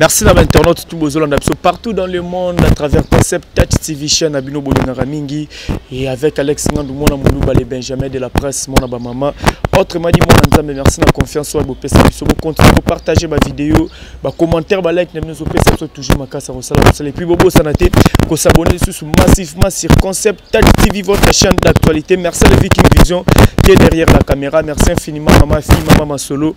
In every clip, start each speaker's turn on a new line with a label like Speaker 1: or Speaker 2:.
Speaker 1: Merci na ba internautes tout bozolanda biso partout dans le monde à travers concept Touch TV chaîne abino bolingaka mingi et avec Alex Ngandou mona muluba les Benjamin de la presse mona ba maman autrement dit mona nzambe merci na confiance wa bopesa biso bo continuer ko partager ba vidéo ba commentaire ba like na bino zo pesa biso toujours makasa ko sala et puis bobo sanate ko s'abonner sous massivement sur concept Touch TV votre chaîne d'actualité merci à Viking Vision qui est derrière la caméra merci infiniment maman fille maman solo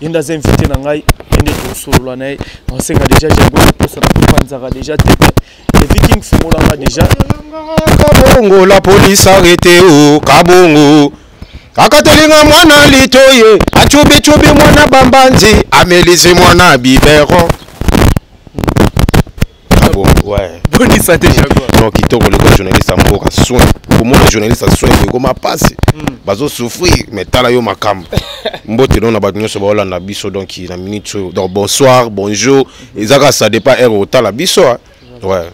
Speaker 1: ye nde aza invité na ngai ye nde tosolola na ye nasenga déjà jango eposa na kopanzaka déjà te le viking fungolanga déjà kabongo
Speaker 2: la police arrete o kabongo akatelinga mwana litoye acubicubi mwana bambanzi amelisi mwana bibero boni sante
Speaker 1: non kitoko lokola
Speaker 2: journaliste ya mboka soin komona journaliste ya soin ekoma mpasi hmm. bazosouffrir mais tala yo makambo mbote no na bato nyonso baolanda biso donc na minute oyo donc bonsoir bonjour eza kaka ça dépend heure otala biso ouais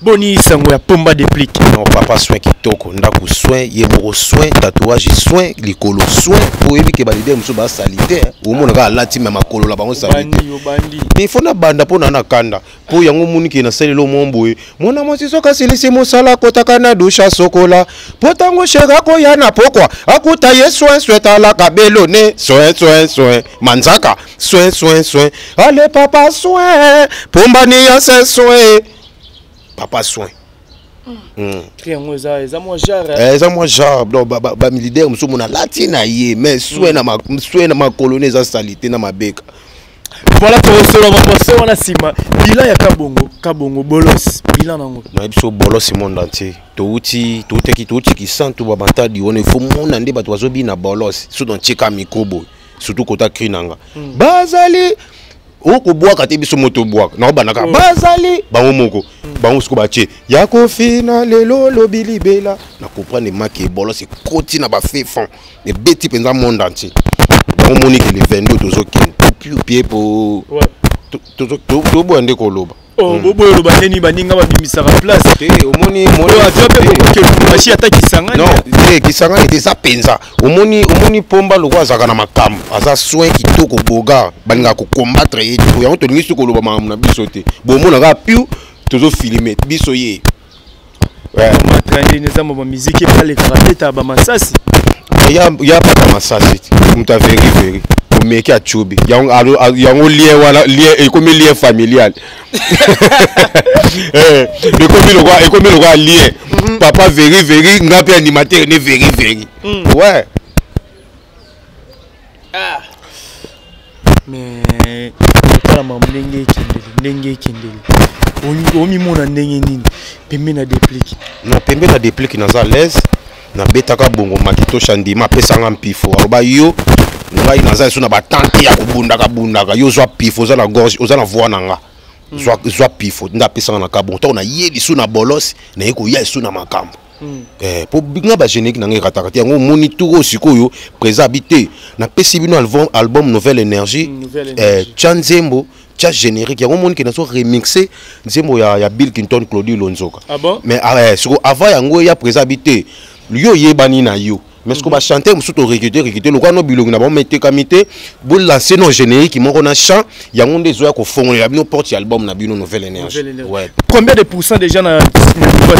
Speaker 1: boni sango ya pomba déplic non papa soin
Speaker 2: kitoko ndako soin ye moko soin tatouage soin likolo soin oyebi ke balide mosusu basalite omonaka alati me makolo na bango salite il faut nabanda mpo na nakanda mpo yango moni ke nasalelo mwa boye mwana mwasi soki asilisi mosala akotaka na dusha sokola mpo ntango sheke akoya na pokwa akuta ye soin soin talaka belone soin soin soin manzaka soin soin soin ale papa soin pombani ya se soin papa soin Hmm. tri
Speaker 1: yango eza eza mwa genre eh, eza mwa genre
Speaker 2: donc bamilidaire mosusu mona alati na ye mais swe hmm. na makolo ne eza salite na mabeka voilà
Speaker 1: tokosola baposo wana nsima bilan ya kabongo kabongo bolos bilan nango na biso bolos
Speaker 2: monde entier touti toutaki touti kisantu bamatadi wana ifo mona nde bato bazobina bolos so dontieka mikro boye surtout kota cri nanga hmm. bazali okobwaka te biso moto obwaka na obandaka mm. bazali bango moko bango siko batie ya kofina lelo lobi libela na comprendre maki ebolos ekoti na bafe fond ebeti mpenza monde entier bango moniki le 22 tozokende piepiepo toboya nde koloba Oh, hmm. boboyo oloba
Speaker 1: ndeni baninga babimisaka place te omoni
Speaker 2: aza mpe bokoki
Speaker 1: lubumbashi ata kisangani non te kisangani
Speaker 2: te eza mpenza omoni omoni pomba lokola azalaka na makambo aza soin kitoko bogar balingaka kokombattre ye te yango tolingi soki koloba makambo na biso te bomona kaka piu tozofilme biso ye
Speaker 1: matrandi eza mwa bamiziki ebalekaka beta bamasasi ya
Speaker 2: bata masasi moto ya veri veri omeki acubi yango lie wana ekomi lie familial eh, ekomi lokola lie mhm. papa veri veri nga mpe animateur ne veri veri mm. ouais
Speaker 1: ah. mais otalama ndenge ekendeli ndenge ekendeli omimona ndenge nini pembe na deplike na pembe na
Speaker 2: deplike naza alaise nabetaka bongo makitosha ndima apesanga mpifo aloba yo ngai naza lisusu na batante ya kobundaka bundaka yo ozwa pifo oza na gorge oza na voi na nga zwa pifo nde apesanga na kabongo ntango naye lisusu na bolos naye koya lisusu na makambo Hmm. Eh, po nga ba générique na nga erataka te yango omoni turo sikoyo présent abi te napesi bino album, album nouvelle énergie hmm, eh, tya nzembo tya générique yango omoni ke nazo remixe nzembo ya, ya bill clinton claudi lonzoka ah bon? mais ah, eh,
Speaker 1: siko avant
Speaker 2: yango eya présent abi te yo oyebani na yo mais siko bachante mosusu torekete rekete lokola no bilongi na bango metekami te bolanse no générique moko na chant yango nde ezoya kofongolela bino porte ya album na bino nouvelle énergie ouais. combien de pourcent
Speaker 1: déjà na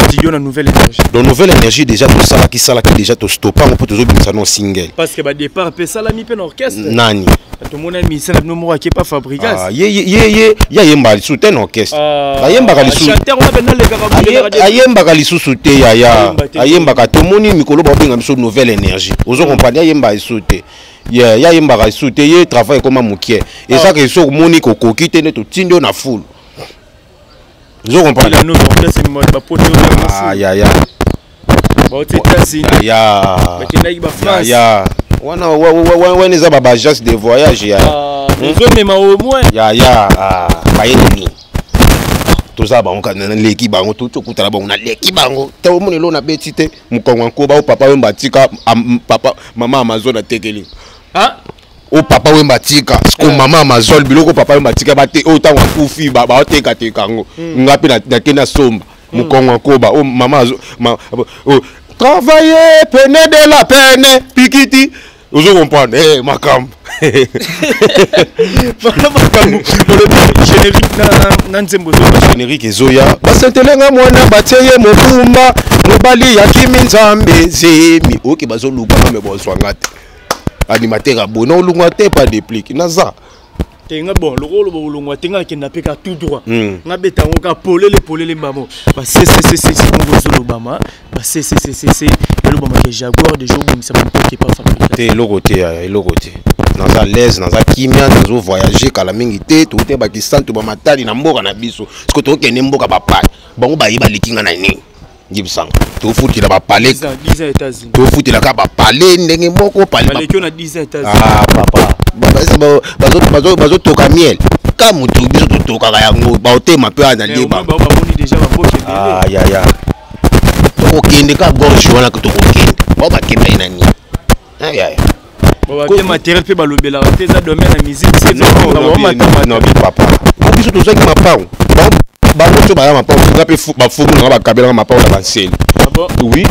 Speaker 1: studio na nouvelle énergie donc nouvelle énergie déjà
Speaker 2: tosalaki salaki déjà tostoppa yango mpo tozobimisa no single parce que badépart mpe
Speaker 1: esalami mpe na orchestre nani tomona
Speaker 2: misa
Speaker 1: na bino moko ake pa fabrigas ah, ye
Speaker 2: ayembaka lisusu te na orchestre ah, ayembaka lisusuayembaka
Speaker 1: lisusu te
Speaker 2: yaya ayembaka tomoni mikolo baobenga biso nouvelle énergie ozo mm. comprendre ayembaka lisusu te ye ayembaka lisusu te ye travail ekoma mokie ezaka ah. esoki omoni kokoki te nde totindi yo na fulu ozo comprendre nous on place ni
Speaker 1: ba pote yo ah ya ya ba ote tasi ya ya ba kendaki
Speaker 2: ba France ya wana wana eza ba bajas de voyage ya ah, hmm?
Speaker 1: ozo mema
Speaker 2: au moins ya
Speaker 1: ya ah bayeli ni
Speaker 2: toza bango kana naleki bango to tokutana bango naleki bango te omoni elo nabeti te mokongo ya nkoba o papa yo mbatika papa mama amazon atekeli ah?
Speaker 1: o papa
Speaker 2: wemba atika siko eh. mama amazol biloko papa wemba atika bate oyo ntango akufi baotekateka yango hmm. nga mpe nake nasomba hmm. mokongo akoba o mama travailler pene de la pene pikiti ozo comprendre hey, eh, makambo wana makambo olobi générique na, na nzembo ezoba générique ezoya basentele nga mwana batie ye mobumba mobali ya kimi nzambe zemi oke okay, bazoluka me bozwa nga te animateur ya boye naolongwa te pa deplic naza te nga bon
Speaker 1: lokola oloba olongwa te nga akenda mpe ka tout droit hmm. nga beta yango ka polele polele mbamo basesesesese bongo ezolobama basesesesese elobama ke jaguar deja obongisa bampoke pa fabrika te eloko te yaya
Speaker 2: eloko te naza alaise naza kimia nazo voyage kala mingi te toute bakisantu bamatali na mboka na biso siko tokokende mboka bapaya bango baye baleki nga na nini ngi bisanga tofutela bapale
Speaker 1: tofutelaka bapale
Speaker 2: ndenge moko ah,
Speaker 1: papa
Speaker 2: bazotoka miel ka motu biso totokaka yango baotema mpe aza leba
Speaker 1: yaya
Speaker 2: tokokende ka gorge wana tokokende bao bakendaki na nini babie
Speaker 1: matériel mpe balobelaka te eza domaine ya
Speaker 2: musique papa po biso tozwaki mapango bango nso baya mapango nga mpe bafumu nanga bakabelanga mapango na banseli ah oui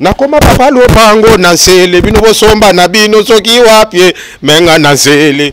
Speaker 2: nakoma papa lopango na nsele bino bosomba na bino soki wapie menga na nsele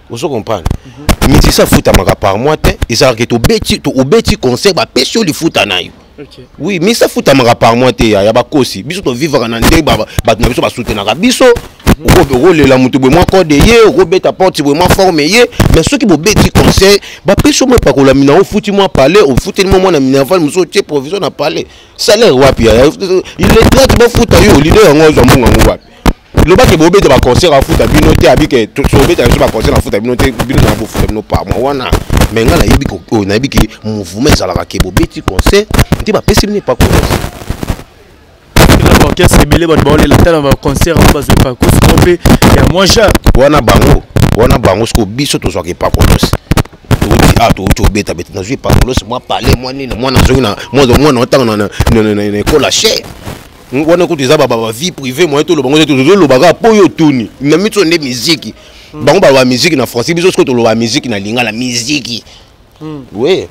Speaker 2: ozo comprendre musicien afutamaka par mois te ezalaka ke tobeti obeti concert bapesi yo lifuta na yo Okay. oui misa
Speaker 1: afutamaka
Speaker 2: par mois te ya bakosi biso tovivaka na ndenge bato na biso basutenaka biso mhm. okolela moto boye mwa code ye okobeta porte boye mwa forme ye mais soki bobeti conseil bapesi omo epakola mina ofuti mwa palais ofuteli mwa mwana minerval mosusu otie provision na palais salaire wapi yaya iletrate bafuta yo lido yango azwa mbongo yango wapi loba ke bobeta ba concert afuta bino te abi ke tobeta biso ba concert afuta bino te bino na bofuta bino par mois wana me ngai nayebi oyo oh, nayebi ke mouvement ezalaka ke bobeti concert nte bapesi bino epa concert
Speaker 1: orchestre ebele bato baolela ata na baconcert yango bazwa epakosi mo mpe ya mwa jar wana bango
Speaker 2: wana bango sikoyo biso tozwaka epakosi ah touti obeta beta nazwi epakosi mwa pale mwa nini mwana azongi mwana otanga na ekole ya chere wana kutu eza baba vie privée moye toloba ngo te tozoloba kaka mpo yo otuni na miso nde miziki hmm. bango baloba miziki na français biso soki toloba miziki na lingala miziki hmm. oui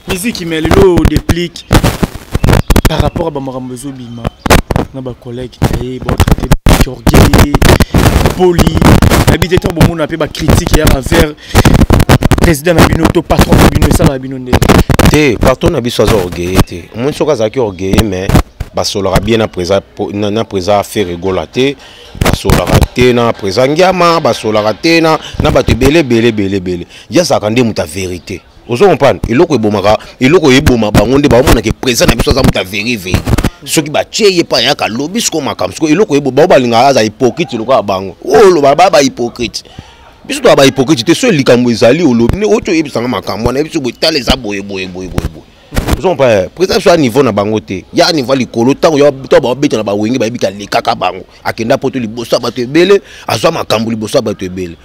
Speaker 1: miziki mais lelo déplique par rapport à bamakambo ezobima na bacollègue na ye baotraite orgueil poli nayebi te ntango bomona mpe bacritique ya bavers président na bino to patron na bino esalaka bino ndenge te patron na
Speaker 2: biso aza orgueille te omoni soki azalaki orgueille mais basolaka bien na présa na présa ferre gola te basolaka te na présa ngiama basolaka te na na bato ebele ebele ebele ebele ye azalaka nde moto ya verité ozo comprendre eloko ebomaka eloko eboma bango nde baomonaka présa na biso aza moto ya veri veri soki batye ye epai yaka lobi siko makambo siko eloko ebo bao balingaka aza hypocrite lokola bango oyo oh, loba ba bahypocrite biso toya bahypocrite te soki likambo ezali olobi nde oti oyebisanga makambo wana yebiso boyetala eza boye boye boye boye boye ozompa eh, président biso ya niveau na bango te ya niveau ya likolo ntango to babeta na bawenge bayebi te alekaka bango akenda poto liboso ya bato ebele azwa makambo liboso ya bato ebele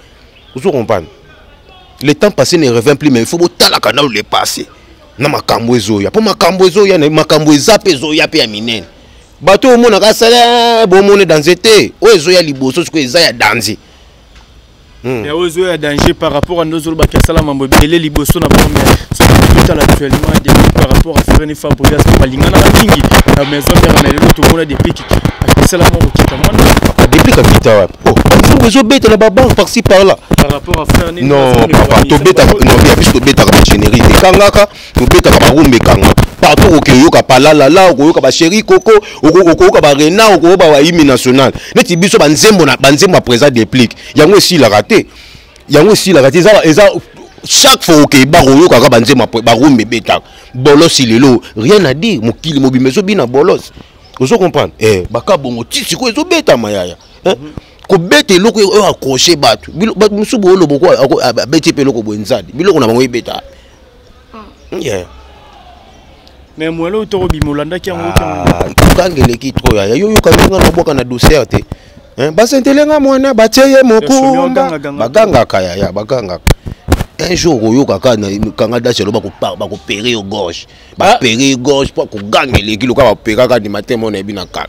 Speaker 2: ozo comprendre le temps passé ne revient plus mais il faut botalaka nano le passé na makambo ezoya mpo makambo ezoya makambo eza mpe ezoya mpe ya minene bato oyo omonaka asala eh, bomone danze te oyo ezoya liboso sikoyo eza ya danze Hmm.
Speaker 1: yawe ezoya danger par rapport à ndozo lobaki asala mambo ebele liboso na bango mais soki totala actuellement depuis par rapport à fereni fabrigas balinganaka mingi na maison mère na lelo tomona depiki akisala moko kita mwana ah, depiki akita
Speaker 2: wapi o oh, nzongo ezobetela babanke parci par là par rapport à fereni
Speaker 1: non papa
Speaker 2: tobetaka non ya biso tobetaka bagénérique ekangaka tobeta ba marumba ekanga partout okoki oyoka palalala okoyoka ba chéri koko okoyoka ba rena okoyoka ba hymne national neti biso banzembo na banzembo ya présent déplique yango esilaka te yango esilaka te eza eza chaque fois okei bakoyokaka banzembo ya barumba ebetaka bolosi lelo rien à dire mokili mobimba ezobina bolosi ozo comprendre eh baka bongo ti sikoyo ezobetama yaya eh? mm -hmm. kobeta eloko oyo accroche bato bato mosusu booloba abeti mpe eloko boye nzadi biloko na bango ebeta hmm. yeah.
Speaker 1: mais mwele oyo tokobima olandaki yango kanga ah, eleki
Speaker 2: tro yaya yo yoka ndenge nabwaka na douceur te eh, basentele nga mwana batie ye mokumba bagangaka yaya bagangaka un jour okoyoka kaka na kanga dasi aloba bakopere yo gorge bapere ah. gorge mpo akoganga eleki loka baperaka ni matema oyo nayebi na kala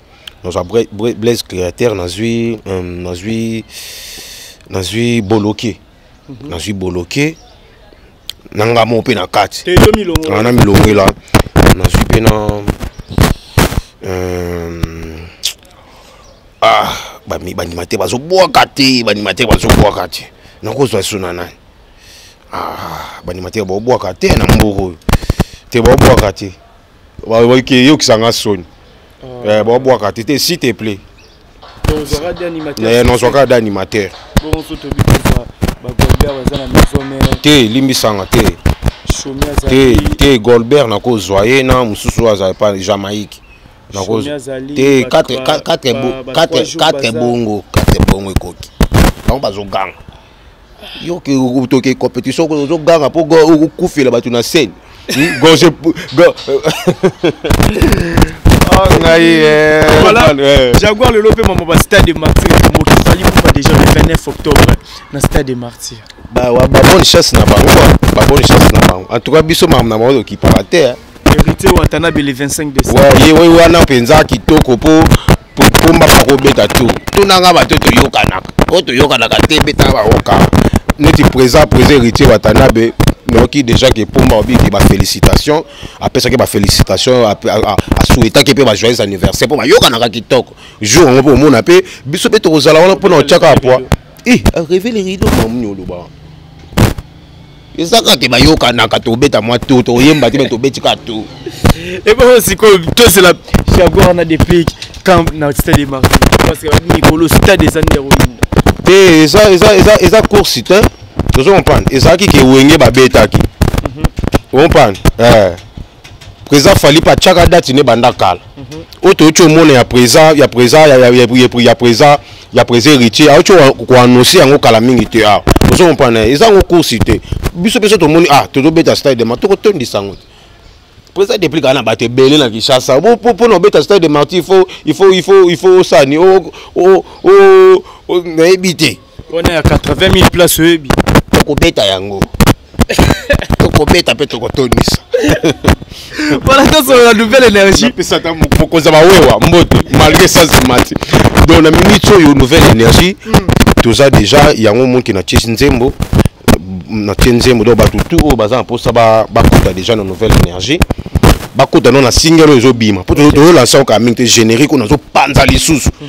Speaker 2: nazwa blaise créateur nazwi euh, nazwi nazwi boloke mhm. nazwi boloke na nga moko mpe na kati ah, na milongela nazwi mpe na euh, ah bandima te bazobwaka te bandima te bazobwaka te nakozwa so na nani ah, bandima te babwaka te na mboko oyo te babwaka te eyokisa nga soni ah. eh, babwaka te te si te plait nozwaka eh, da animateur te limbisanga te te te golbert nakozwa ye na mosusu oyo azali pa jamaïque te 4 bongo 4 bongo ekoki bango bazoganga yo toke compétition ozoganga mpo okufela bato na scène hmm? gorge ah,
Speaker 1: ngai eh, eh. jaguar lelo mpe mama ba stade de martyr moki fali kufa déjà le 29 octobre na stade de martyr babonne
Speaker 2: chasse na bango babonne chasse na bango en tout cas biso makambo na bango tokipaka te héritier watanabe
Speaker 1: le 25 décembre ye wana mpenza
Speaker 2: kitoko mpo pomba bakobeta tu tunanga bato toyokanaka oyo toyokanaka te beta baoka neti présent présent héritier watanabe noki déjà ke pomba obiki bafélicitation apesaki bafélicitation asouetaki mpe bajoyeux anniversaire mpo bayokanaka kitoko jour yango mpe omona mpe biso mpe tokozala wana mpo na otyaka apoi eh, reve le rido mamni oloba eza kaka te bayokanaka tobeta mwa to toyemba te me tobeti kaka to ebongo
Speaker 1: sikoyo tosela chago wana deplic camp na stade de marti parce que babi mikolo stade eza nde yakoyinda te eza
Speaker 2: eza eza eza course te tozo comprendre ezalaki ke wenge babetaki mhm. comprendre eh président fali mpe atyaka date ne banda kala mhm. oyo toyoti omona ya président ya président ya président ya président héritier aoti koannonce yango kala mingi te awa ah, ozo comprendre eza yango course te biso mpe so tomoni ah tozobeta stade de ma tokotondisa yango te président depuis kaka na bato ebele na kinshasa mpo na obeta stade de marti il faut il faut il faut osani nayebi te wana ya 80000
Speaker 1: place oyebi tokobeta
Speaker 2: yango tokobeta mpe tokotondisa
Speaker 1: wana tosolola nouvelle énergie mokonza
Speaker 2: bawewa mbote malgré sasa mati donc na minute oyo nouvelle énergie hmm. toza déjà yango moki na tiesi nzembo na tie nzembo donc bato tout oyo baza na mposa bakota déjà na nouvelle énergie bakota no na single oyo ezobima mpo tozolansa okaa mingi te générique oyo nazopanza lisusu hmm.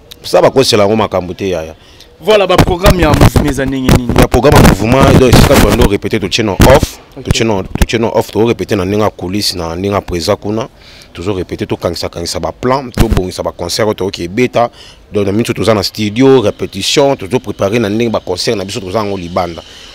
Speaker 2: sa bakosela yango makambo te yaya voilà baprogramme
Speaker 1: ya mouvement eza ndenge nini ya programme ya mouvement
Speaker 2: donc esika tolando répété totie na off totie na off too répété na ndenge ya coulisse na ndenge ya présent kuna tozo répété tokangisakangisa baplan tobongisa baconcert oyo toyoki ebeta donc na minso toza na studio répétition tozo préparé na ndenge baconcert na biso toza yango libanda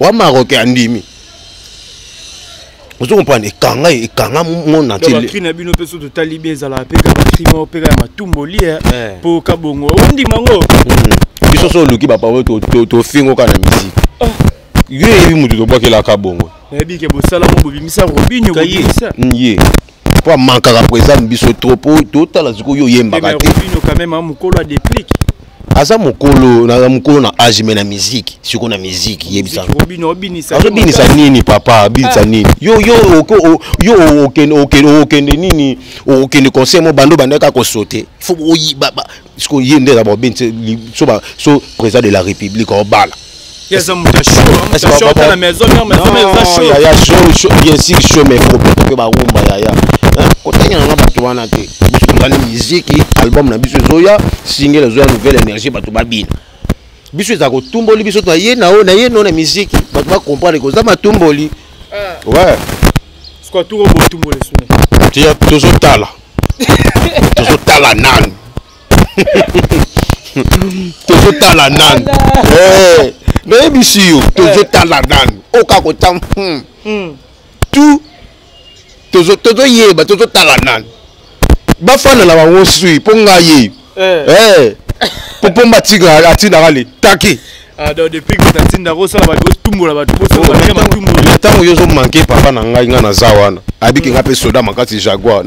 Speaker 2: wa marocain andimi ozo comprendre ekanga ekanga monde entier bakri na bino mpe so totali
Speaker 1: bien ezalaka mpe kaka bakri moko mpe kaka matumbo lie mpo eh. kabongo ondima ngo hmm. biso so
Speaker 2: oluki bapapo tofingo kaka na misiki ah. yo eyebi motu tobwakelaka bongo nayebi ke bosala mo
Speaker 1: bobimisa robinio bobimisa hmm, ye
Speaker 2: po amankaka présent biso trop po totala sikoyo oyembaka te
Speaker 1: aza
Speaker 2: mokolo na mokolo na age me na miziki siko na miziki yebisazobinisa
Speaker 1: nini
Speaker 2: papa abinisa ah. nini yo yo yo okende nini okende conseil mo bando bandaka kosote fo siko ye nde ezaba obe so ba so président de la république obala
Speaker 1: ya so
Speaker 2: bien sûr so mais problème pe ba rumba ya ya kotangela nga bato wana te biso tozali miziki album na biso ezoya singele ezoya nouvelle énergie bato babina biso eza kotumboli biso na ye na oyo na ye no na miziki bato bakomprendre koza matumboli ah.
Speaker 1: tozotala
Speaker 2: tozotala nanu tozotala nanu eh, nayebisi yo tozotala nanu oka kota hmm. hmm. tu tozoyeba tozotala nanu bafanda na bango sui mpo ngai eh popomba tigre atindaka le taki ah, depuis que
Speaker 1: tatinda kosala bato botumbola bato bosobantango yo ozomanke
Speaker 2: papa na ngai ngai naza wana abiki ngai mpe soda makasi jaguar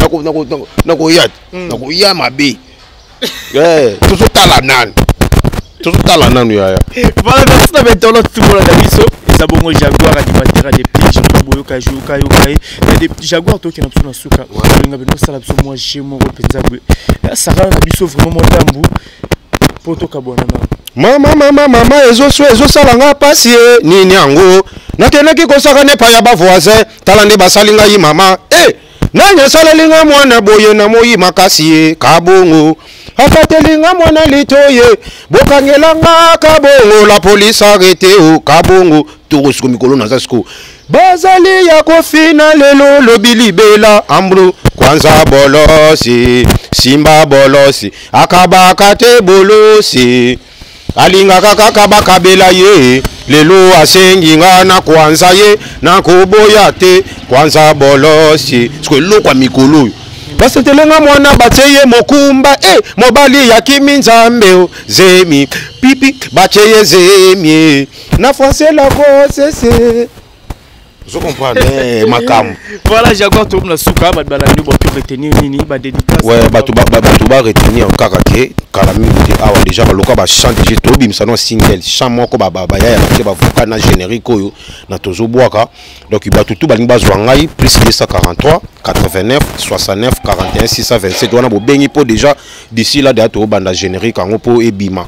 Speaker 2: nakoya hmm. nakoya mabe eh, tozotala nani tozotala nanu yaya voilà merci na
Speaker 1: bainternet tukola na biso eza bongo jaguar animateur ya depuis jour boyoka yoka yoka ye jaguar tokenda biso na suka olinga bino osala biso mwa je moko mpenza boye sara na biso vraiment mwa ndambu mpo tokabwana nano mama mama mama
Speaker 2: ezosala nga mpasi ye eh, nini yango nakendaki kosaka nepa ya bavoisin tala nde basali ngai mama e eh! hey! Nani asaleli nga mwana boye na moyi makasi ye kabongo afateli nga mwana litoye bokangela nga kabongo la police arrete o kabongo toko siko mikolo naza siko bazali ya kofina lelo lobi libela ambro kwanza bolosi simba bolosi akabaka te bolosi Alingaka kaka bakabela ye lelo asengi nga na kwanza ye nakoboya te kwanza bolosi siko eloko ya mikolo oyo basetelenga mwana batye ye mokumba e eh, mobali ya kimi nzambe o zemi pipi batye ye zemi na francela kosese ozo comprendre eh, makambo voilà jaguar
Speaker 1: tokomi na suka bato balandi bato retenir nini badédicace ouais, bato
Speaker 2: ba retenir kaka ke kala mingi te awa déjà baloka bachant dg tobimisa no single chant moko baya ya bake bavoka na générique oyo na tozobwaka donc bato tu balingi bazwa ngai plus 243 89 69 41 627 wana bobengi mpo déjà d'ici là deya tobanda générique yango mpo ebima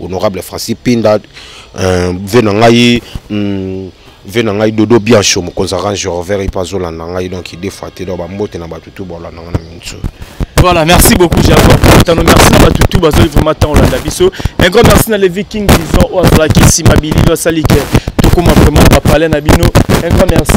Speaker 2: honorable francis pinda euh, ve na ngai hmm, ve na ngai dodo biancho mokonzi ya range rover epe azolanda ngai donc idefa te donc bambote na bato tu bolanda ngai na minso Voilà, merci
Speaker 1: beaucoup, j'ai encore Tano. Merci à tout, tout, Bazo, vraiment, tant, on l'a biso. Un grand merci à Levi King, disons, au Azalaki, Simabili, Salike, tout comme vraiment, on va parler, Nabino. Un grand merci.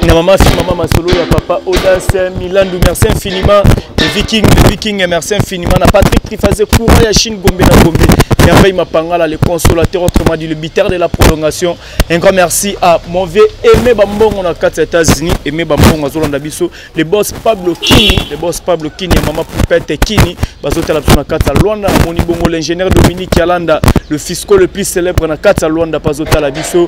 Speaker 1: na mama si mama masolo ya papa odas milandu merci infiniment le viking le viking merci infiniment na patrick trifaze courant ya chine gombe na gombe merveille mapangala le consolateur autrement dit le biteur de la prolongation un grand merci à mon vieux aimé bambongo na kati ya états-unis aimé bambongo azolanda biso le boss pablo kini le boss pablo kini ya mama poupete kini bazotala biso na kati ya luanda namoni bongo l'ingénieur dominique yalanda le fisco le plus célèbre na kati ya luanda mpe azotala biso